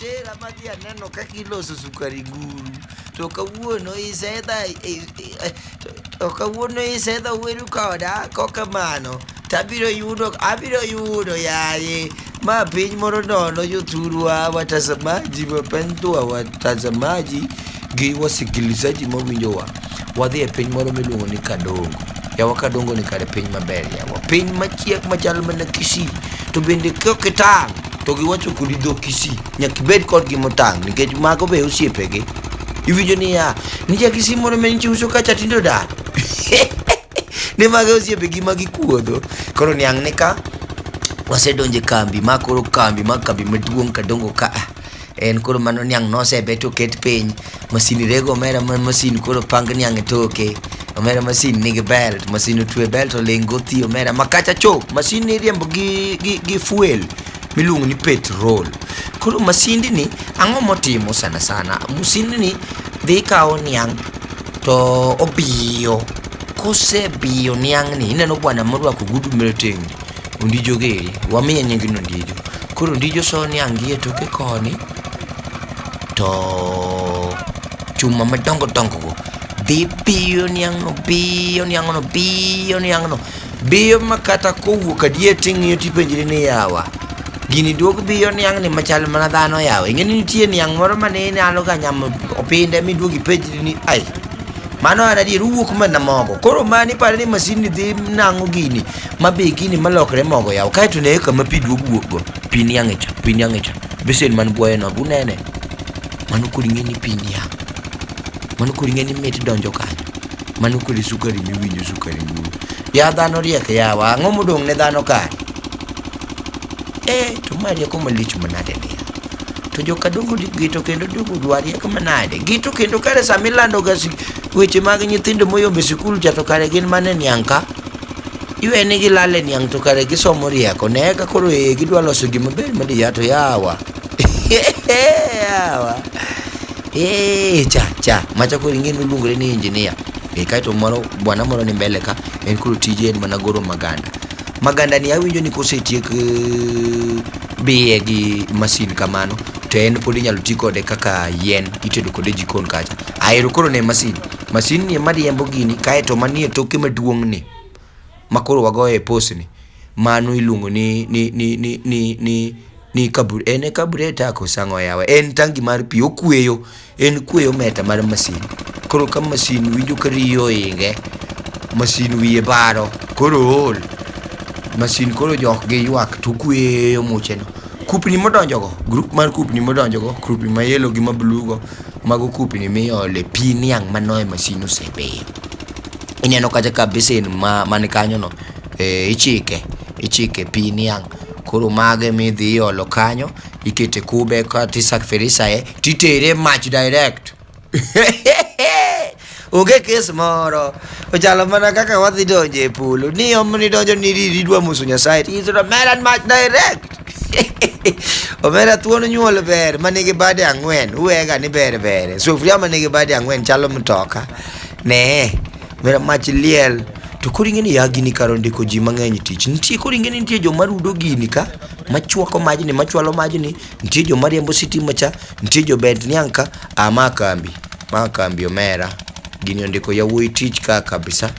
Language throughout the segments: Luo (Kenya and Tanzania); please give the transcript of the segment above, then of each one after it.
kutera madhi aneno kaka iloso sukari guru to kawuono isedha to kawuono isedha weru koda kokamano to abiro yudo abiro yudo yaye ma piny moro nono jothurwa watazamaji wapendwa watazamaji gi wasikilizaji mawinjowa wadhi e piny moro miluongo ni kadongo yawa kadongo ni kare piny maber yawa piny machiek machal mana kisii to bende kokitang' to giwacho kodi dho kisii nyaka ibed kodgi motang' nikech mago be osiepegi iwinjo niya nijakisi moro menche uso kacha tindo daro ne mage osiepegi ma gikuodho koro niang' ni ka wasedonje kambi ma koro kambi ma kambi maduong' kadongo ka ah, en koro mano niang' nosebet oket piny masini rego omera ma masin koro pang niang' e toke omera masin nigi belt masin otwe belt oling gothi omera makacha cho masin iriembo gi, gi, gi fuel miluongo ni petrol. Koro masindni ang'o motimo sana sana? Masindni dhi kawo niang' to obiyo. Kosebiyo niang'ni ineno bwana morwako gudu marateng'ni ondijo geri wamiye nying ni ondijo. Koro ondijo so niang' gi e toke koni to chuma madongo dongo go dhi biyo niang'no biyo niang'no biyo niang'no. Biyo ma kata kowuok adier ting'iyo tipenjri ni yawa. Gini duog biyo niang' ni machal mana dhano yawa. Ing'e ni nitie niang' moro ma ne inyalo ga nyamo opinde miduog ipenjri ni ai. Mano an adier uwuok mana mogo. Koro mani pare ni masin ni dhi nang'o gini ma be gini malokre mogo yawa. Kaeto ne kama pi duog wuok go. Pi niang' e cha, pi niang' e cha. Besen man buoye no, unene. Mano kod ing'e ni pi niang'. Mano kod ing'e ni mit donjo kanyo. Mano kode sukari miwinjo sukari duong'. Ya dhano riek yawa, ang'o modong' ne dhano kare? Eh, to ma rieko malich manade ni? To joka dongo gito kendo dongo dwa riek manade? Gito kendo kare sama ilando ga weche mag nyithindo moyombe sikul cha to kare gin mane niang' ka? Iwe ni gilale niang' to kare gisomo rieko. Ne ka koro ee gidwa loso gima ber madiya to yawa. yawa. Eeeh, cha cha, macha koro ing'e miluongore ni engineer. E kaito moro bwana moro ni mbele ka en koro tije en mana goro maganda. Maganda ni awinjo ni kosetiek eh, biye gi masin kamano to en pod inyalo ti kode kaka yien itedo kode e jikon kacha. Ahero koro ne masin. Masin ni ema riembo gini kaito manie toke maduong' ni ma koro wagoye posni, mano iluongo ni ni ni ni ni ni ni kabur en e kabure tako sang'o yawa en tangi mar pi okweyo en kweyo meta mar masin koro ka masin winjo ka riyo oinge masin wiye baro koro ool masin koro jok gi ywak to kweyo mucheno kupni modonjogo grup mar kupni modonjogo kupni ma yelo gi ma blugo mago kupni miole pi niang' mano e masin osebeyo ineno kacha ka basin ma man kanyo no e, ichike ichike pi niang' koro mage midhi iolo kanyo ikete kube kata isakfirisaye titere mach direct onge kes moro ochalo mana kaka wadhi donjo e polo ni omni donjo ni riri idwa muso nyasaye tiyisoto meran mach direct omera thuon nyuol ber manigi bade ang'wen uwega ni ber bere sufuria manigi bade ang'wen chalo mtoka Ne, mera mach liel. To koro ing'e ni ya gini kar ondiko ji mang'eny tich. Nitie koro ing'e ni nitie joma rudo gini ka, machwako majni, machwalo majni, nitie joma riembo sitima cha, nitie jobed niang' ka, ah ma kambi, ma kambi omera. Gini ondiko yawuoyi tich ka kabisa.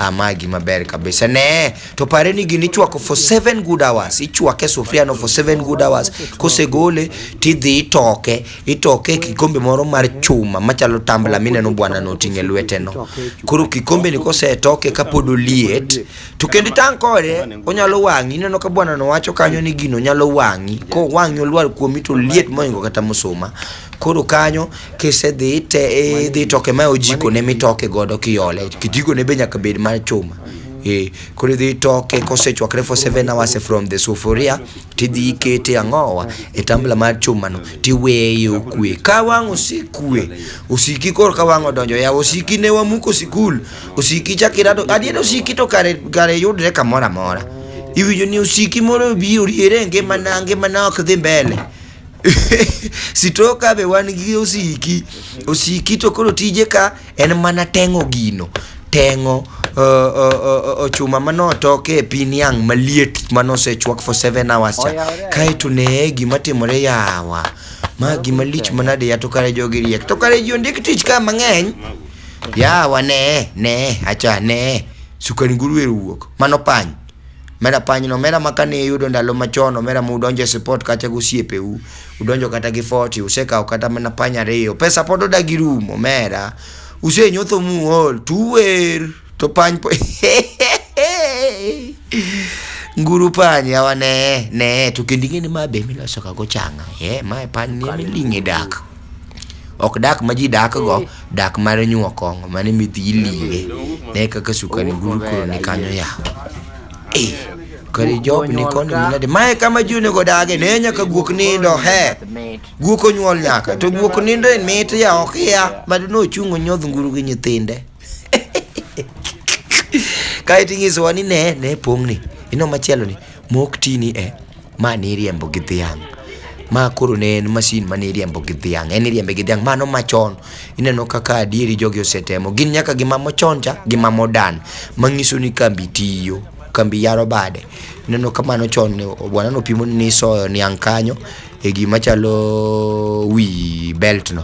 Ah, ma gima ber kabisa. Ne, to pare ni gini ichwako for 7 good hours. Ichwake sufria no for 7 good hours. Kosegole tidhi itoke. Itoke e kikombe moro mar chuma machalo tambla mineno bwana no oting'e lweteno. Koro kikombe ni kosetoke kapod oliet, to kendo itang' kode, onyalo wang'i. Ineno ka bwana no wacho kanyo ni gino nyalo wang'i. Ko wang'i olwar kuomi to liet moingo kata musuma. Koro kanyo kisedhi te e, idhi toke ma ojiko ne mitoke godo kiole. Kijiko ne be nyaka bed mar chuma. Eh, koro idhi itoke kosechwakre for 7 hours from the sufuria tidhi ikete ang'owa e tambla mar chumano tiweye okwe ka wang' osekwe osiki koro ka wang' odonjo yawa osiki ne wamuko sikul osiki chakirado adier osiki to kare kare yudre kamoro amora iwinjo ni osiki moro obi oriere e ngimana ngimana ok dhi mbele sitoka be wan gi osiki osiki to koro tije ka en mana teng'o gino teng'o uh, uh, uh, uh, chuma manotoke e pin yang' maliet manosechwak for 7 hours cha Oyawore. kaeto nee gima timore yawa ma gima lich manade ya to kare jogi riek to kare ji ondik tich ka mang'eny yawa nee nee acha nee sukari nguruwe wuok mano pany Omera panyno, omera ma kane iyudo ndalo machon, omera ma udonjo e sipot kacha gi osiepeu, udonjo kata gi forty, usekawo kata mana pany ariyo, pesa pod odagi rumo, omera. Usenyotho muol, to uwer, to pany po Nguru pany yawa ne, ne, to kendo ing'e ni ma be ema ilosogago chang'a, eh, ma e panyni ema iling' e dak. Ok dak ma ji dakgo, dak mar nyuo kong'o mane midhi ilinge. Ne kaka sukari buru koro ni kanyo yawa. Eh, kare job ni kono ni nade? Mae kama ji onego odage, ne nyaka guok nindo, he. Guok onyuol nyaka, to guok nindo en mit ya ok ya. Mad nochung' onyodh nguru gi nyithinde. Kae to inyisowa ni ne, ne pong' ni. Ino machielo ni. Mok tini e, ma niriembo gi dhiang'. Ma koro ne en masin ma niriembo gi dhiang', en iriembe gi dhiang'. Mano machon, ineno kaka adieri jogi osetemo. Gin nyaka gi mamo chon cha, gi mamo dan, mang'iso ni kambi tiyo, kambi yaro bade. Ineno ka mano chon ne bwana nopimo ni isoyo niang' kanyo, e gima chalo wi belt no.